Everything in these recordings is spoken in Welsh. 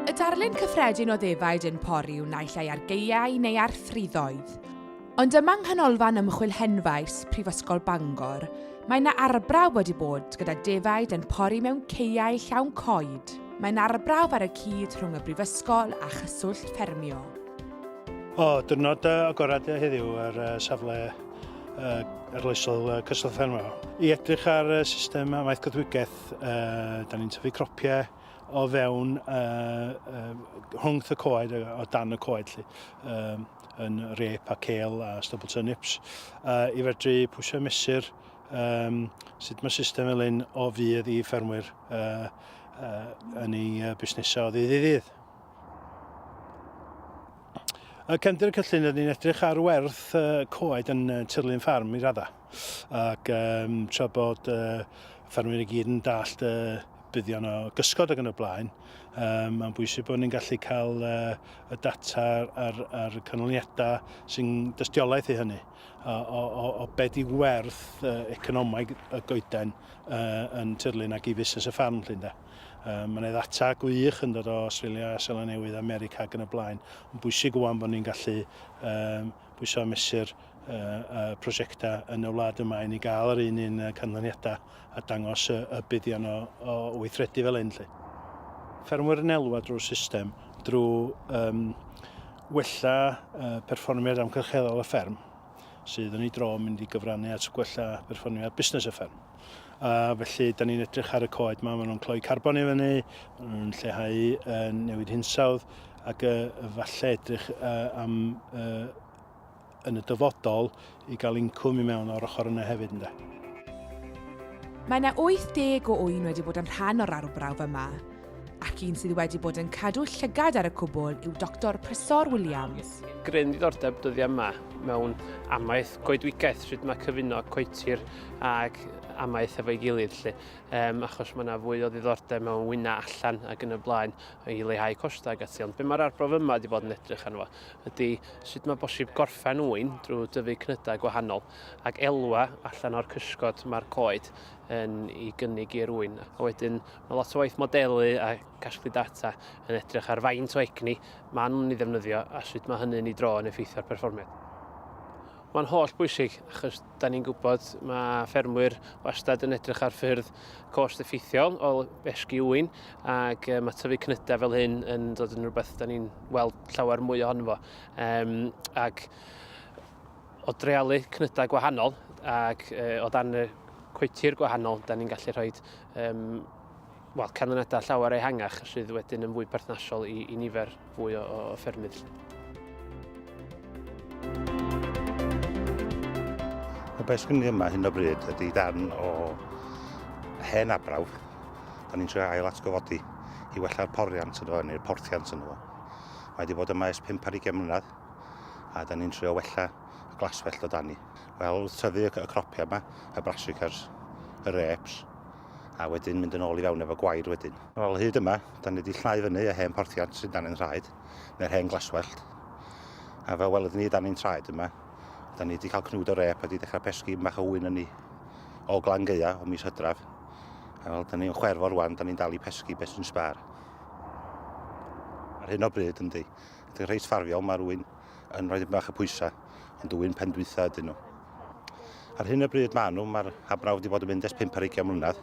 Y darlun cyffredin o ddefaid yn pori yw naill ai ar geiau neu ar ffriddoedd. Ond yma yng Nghanolfan Ymchwil Henfaes, Prifysgol Bangor, mae yna arbrawf wedi bod gyda defaid yn pori mewn ceiau llawn coed. Mae'n arbrawf ar y cyd rhwng y Brifysgol a Chyswllt Ffermio. O, dwrnod agored heddiw ar safle arloesol Cyswllt Ffermio. I edrych ar system amaeth coedwigaeth Uh, da ni'n tyfu cropiau o fewn uh, uh, rhwngth y coed, o dan y coed lli, um, yn rep a cael a stubble turnips, uh, i fedru pwysio mesur um, sut mae system fel un o fydd i ffermwyr uh, uh, yn ei uh, busnesau o ddydd i ddydd. Y cefndir y cyllyn, rydyn ni'n edrych ar werth uh, coed yn uh, tirlun ffarm i raddau. ac um, tra bod uh, ffermwyr i gyd yn dallt y uh, buddion o gysgod ac yn y blaen, um, mae'n bwysig bod ni'n gallu cael uh, y data a'r, ar canlyniadau sy'n dystiolaeth i hynny o, o, o be di werth uh, economaidd y goeden uh, yn tirlun ac i fusnes y ffarm llun da. Um, Mae'n ddata gwych yn dod o Australia, Seland Newydd, America ac yn y blaen. Mae'n bwysig wwan bod ni'n gallu um, pwysau a mesur y prosiectau yn y wlad yma i ni gael yr un un canlyniadau a dangos y, y buddion o, o weithredu fel hyn. Lle. Ffermwyr yn elwa drwy'r system drwy um, wella uh, perfformiad amgylcheddol y fferm sydd yn ei dro mynd i gyfrannu at gwella perfformiad busnes y fferm. Uh, felly, da ni'n edrych ar y coed yma, maen nhw'n cloi carbon i fyny, maen nhw'n lleihau uh, newid hinsawdd, ac uh, falle edrych uh, am uh, yn y dyfodol i gael incwm i mewn o'r ochr yna hefyd. Ynda. Mae yna 80 o ŵyn wedi bod yn rhan o'r arbrawf yma, Ac un sydd wedi bod yn cadw llygad ar y cwbl yw Doctor Prysor Williams. Gryn ddiddordeb dyddiau yma mewn amaeth goedwigaeth, sut mae cyfuno coetir ac amaeth efo'i gilydd lle, um, achos mae yna fwy o ddiddordeb mewn wyna allan ac yn y blaen i leihau costau ac ati. Ond be mae'r arbrof yma wedi bod yn edrych arno fo ydy sut mae bosib gorffen wy'n drwy dyfu cnydau gwahanol ac elwa allan o'r cysgod mae'r coed yn ei gynnig i'r wy'n. A wedyn Mae lot o waith modelu a casglu data yn edrych ar faint o egni maen nhw'n ei ddefnyddio a sut mae hynny'n ei dro yn effeithio ar perfformiad. Mae'n holl bwysig achos da ni'n gwybod mae ffermwyr wastad yn edrych ar ffyrdd cost effeithiol o esgu ŵyn ac um, mae tyfu cnydau fel hyn yn dod yn rhywbeth da ni'n weld llawer mwy ohono fo. Um, ac o drealu cnydau gwahanol ac uh, o dan y coetir gwahanol, da ni'n gallu rhoi um, well, canlyniadau llawer ehangach sydd wedyn yn fwy perthnasol i, i nifer fwy o, o ffermydd. Y beth sy'n ni yma hyn o bryd ydy darn o hen abrawf. Da ni'n trio ail atgyfodi i wella'r poriant yno, neu'r porthiant yno. Mae wedi bod yma ers 5 ar 20 mlynedd, a da ni'n trio wella y glaswellt o dani. Wel, tyfu y cropia yma, y brassicas, y reps, a wedyn mynd yn ôl i fewn efo gwair wedyn. Wel, hyd yma, da ni wedi llnau fyny y hen porthiant sydd dan ni'n rhaid, neu'r hen glaswellt. A fel welyd ni, da ni'n traed yma. Da ni wedi cael cnwd o rep a wedi dechrau pesgu mach o wyn yn ni o glan geia o mis hydraf. A fel da ni'n chwerfo rwan, da ni'n dal i pesgu beth sy'n sbar. Ar hyn o bryd, yndi, ydy'n rhai sfarfiol, mae'r wyn yn rhoi bach y pwysau, ond dwi'n pen dwytha ydyn nhw. Ar hyn y bryd maen nhw, mae'r habrawf wedi bod yn mynd ers 5 ar 20 mlynedd,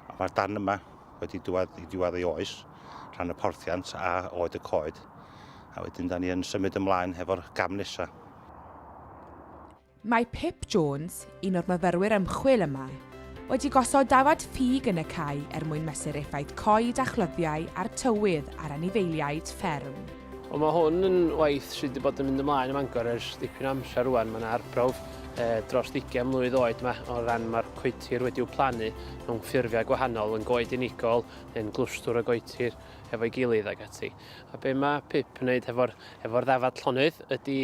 ond mae'r dan yma wedi dwad i diwad ei oes, rhan y porthiant a oed y coed, a wedyn da ni yn symud ymlaen hefo'r gam nesaf. Mae Pip Jones, un o'r myfyrwyr ymchwil yma, wedi gosod dafad ffug yn y cae er mwyn mesur effaith coed a chlyddiau a'r tywydd ar anifeiliaid fferm. Wel mae hwn yn waith sydd wedi bod yn mynd ymlaen ym Mangor ers dipyn o amser rwan. Mae yna arbrawf e, dros ddigen mlwydd oed yma o ran mae'r coetir wedi'w plannu mewn ffurfiau gwahanol, yn goed unigol, yn glwstwr o goetir efo'i gilydd ac ati. A be mae Pip yn wneud efo'r efo ddafad llonydd ydy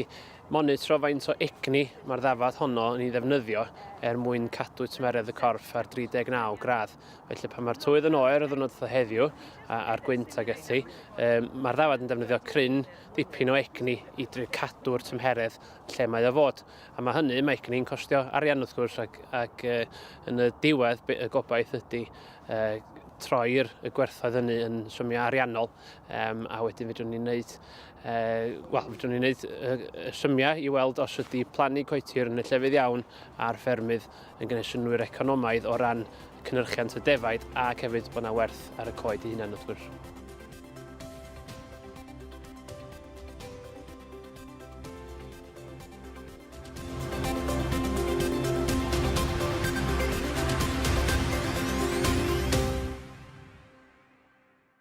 Monitro faint o egni mae'r ddafad honno yn ei ddefnyddio er mwyn cadw tymheredd y corff ar 39 gradd. Felly pan mae'r tywydd yn oer o ddwrnod fatha heddiw a, a'r gwynt ag ati, um, mae'r ddafad yn defnyddio cryn dipyn o egni i dri cadw'r tymheredd lle mae o fod. A mae hynny, mae egni'n costio arian wrth gwrs ac, ac uh, yn y diwedd y gobaith ydy uh, troi'r gwerthoedd hynny yn symiau ariannol. Um, a wedyn fedrwn ni'n neud, uh, wel, fedrwn ni'n neud uh, symiau i weld os ydy plannu coetir yn y llefydd iawn a'r ffermydd yn gwneud synwyr economaidd o ran cynnyrchiant y defaid ac hefyd bod yna werth ar y coed i hunan wrth gwrs.